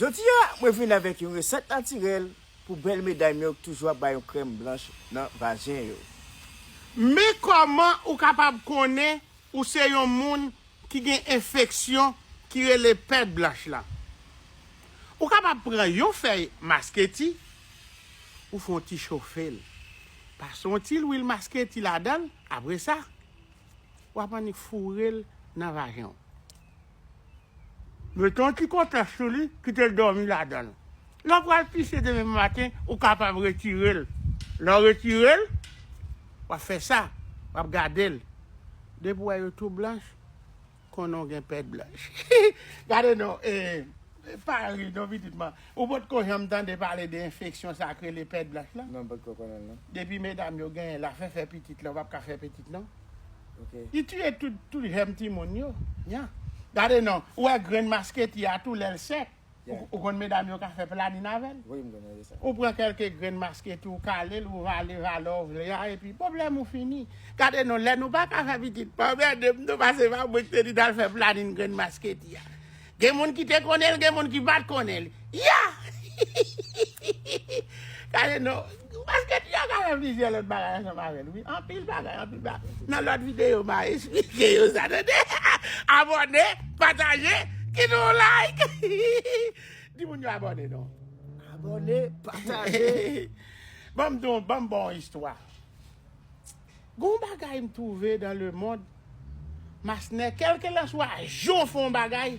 Jodi a mwen vin avèk yon resèt natirèl pou bèl medam yo k toujou ap bay yon krèm blanch nan vajen yo. Men kòman ou kapab konnen ou se yon moun ki gen enfeksyon ki rele pèd blanch la. Ou kapab pran yon fèy masketi, ou fon ti chofe l, pase yon ti lwil masketi ladan l, apresa wap annik foure l nan vajen w. Mete yon ti kotèks sou li, kite l dòmi ladan l. Lè w pral pise demen maten, ou kapab retire l. Lè w retire l, w ap fè sa, w ap gade l. Depi w wè yo tou blanch, konnen w gen pèd blanch. Gade non, e, pa ri non pitit mwen. Ou potko janm tande pale de enfeksyon sa k rele pèd blanch lan? Non, m potko konnen l non. Depi medam yo genyen l, afè fè pitit la, ou pap ka fè pitit non. ok. Li tiye tout jèm timoun yo nya. Gade non, ou wè grenn masketi a tou lèl sèk, ou konn medam yo ka fè planin avèl. Wi m konnen de sa. Ou pran kelke grenn masketi ou kalel ou vale valè ou vle a epi pwoblèm ou fini. Gade non lè nou paka fè pitit pa anmèdem non pase pa mwen ki te di nal fè planin grenn masketi a. Gen moun ki te konnen l gen moun ki pat konnen l ya gade non paske ti Jaka fè plizyè lòt bagay ansanm avè l wi anpil bagay anpil bagay nan lòt videyo ma esplike yo sa tande abòne pataje kite yon like di moun yo abòne non abòne pataje banm banm ba w yon istwa. Gon bagay m trouve dans le monde Masner kelkela swa jan w fè yon bagay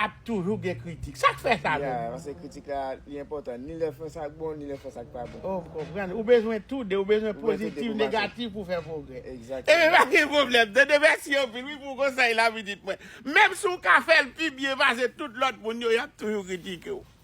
ap toujou gen kritik sak fè sa menm? Ya paske kritik la li enpòtan ni lè fè sak bon ni lè fè sak pa bon. Oh m konprann ou bezwen tou de ou bezwen pozitif negatif pou fè pwogrè ebyen pa gen pwoblèm tande mèsi anpil wi pou konsèy la pitit mwen menm si w ka fè l pi byen pase tout lòt moun yo yap toujou kritike w.